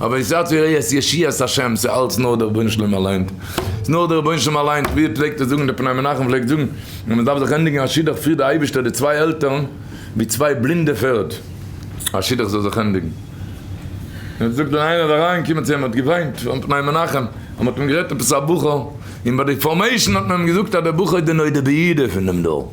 אבער איך זעה צו ראה את ישיעת השם, ס'איז אלץ נאר דער רבונו של עולם אליינס, ס'איז נאר דער רבונו של עולם אליינס, ווי ער פלעגט עס זאגן, דער פני מנחם פלעגט זאגן, אז מען דארף זיך ענדיגן א שידוך פירט דער אייבערשטער די צוויי עלטערן ווי צוויי בלינדע פערד, א שידוך זאל זיך ענדיגן. און ער זאגט ווען איינער איז אריין געקומען צו אים האט געוויינט פארן פני מנחם, אז מען האט אים גערעדט עפעס א בחור, און ביי די פארמעישן האט מען אים געזאגט אז דער בחור איז די נודע ביהודה פון דעם דור.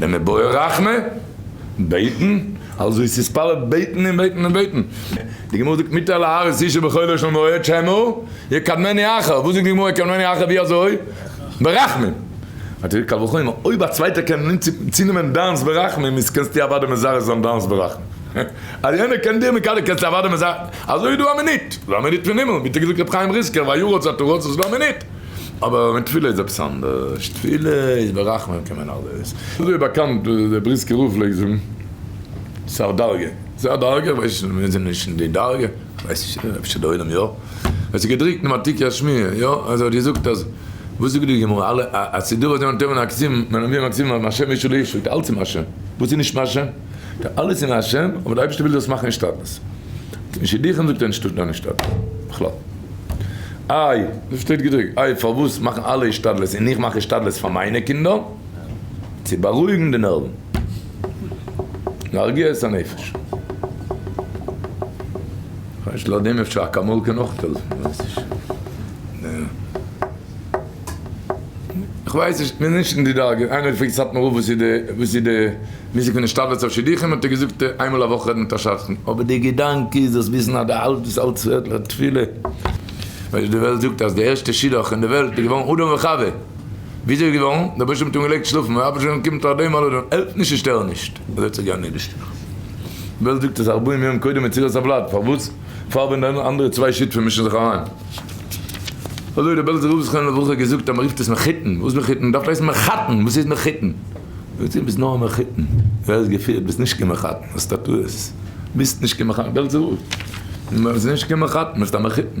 נעמען בורא רחמה, בעטן, אלזא עס איז פאלע בעטן און בעטן און בעטן. די גמרא זאגט מיתה להאריס אישה בכל לשון מועד שמא יקדמני אחר, וואס זאגט די גמרא יקדמני אחר ווי אזוי? ברחמים. קל וחומר אויב א צווייטער קען צונעמען דיינס ברחמים איז קענסטו אוודאי מזרז זיין דיינס ברחמים. אז יענער קען דיר מקדם זיין קענסטו אוודאי מזרז זיין. אזוי איז דא א מינוט, ס'איז דא א מינוט פון הימל, ווי האט ער געזאגט ר' חיים ריסקער, ויהיו רצותו רצות והמינוט. אבער מיט תפילה איז עפעס אנדערש, תפילה איז ברחמים קען מען אלעס, אזוי ווי באקאנט ווי דער בריסקער רב פלעגט זאגן, ס'א דרגה, ס'א דרגה, איך ווייס נישט, מיר זענען נישט אין די דרגה, איך ווייס נישט, אפשר די עולם יא, עס איז געדרוקט אין ותיקי השמי', יא, אז ער האט געזאגט אז, וואס זאגט די גמרא, אלע הסידור אז יענער טוען מן הכתיב, מען האט מיר מן הכתיב אז מהשם איש אל איש, זאגט ער אלעס איז מהשם, וואס איז נישט מהשם, זאגט ער אלעס איז מהשם, אבער די אייבערשטער וויל דאס מאכן השתדלות, און שידוכים זאגט ער נישט טוט קיין השתדלות בכלל. איי, דא שטייט געדרוקט, איי פארוואס מאכן אלע השתדלות און איך מאך השתדלות פאר מיינע קינדער? צו בארואיגן די נערוון. להרגיע את הנפש. כ'ווייס לויט דעם אפשר אקאמאל קען אויך העלפן, כ'ווייס נישט. כ'ווייס נישט, כ'בין נישט אין די דרגה, איינער האט געפרעגט סאטמאר רב וואס איז די וואס איז די. מוזיק פון השתדלות אויף שידוכים האט ער געזאגט איינמאל א וואך רעדן מיט א שדכן, אבער די געדאנק איז דאס וויסן אז די אלט דאס אלט צווערט פאר תפילה, ווייל די וועלט זאגט אז די ערשטע שידוך אין די וועלט איז געווארן אדם וחוה, וויאזוי איז געווארן? די באשעפער האט אנגעלייגט שלאפן, און אף על פי שאין קיום תחת אדום על אדום, העלפט נישט און שטער נישט, ער וועט זיך גארנישט דערשטערן, די וועלט זאגט אז ארבעים יום קודם יצירת הוולד, פארוואס פארבען די אנדערע צוויי שותפים מישן זיך אריין? אזוי האט די בעלזער רב זכרונו לברכה געזאגט אז מען רופט עס מחותן, וואס מחותן? מען דארף הייסן מחתן, וואס הייסט מחותן? זאגט זי ביסט נאר א מחותן, ווער האט געפירט ביסט נישט קיין מחותן האסט א טעות, ביסט נישט קיין מחותן געלט זאל ביסט נישט קיין מחותן ביסט א מחותן.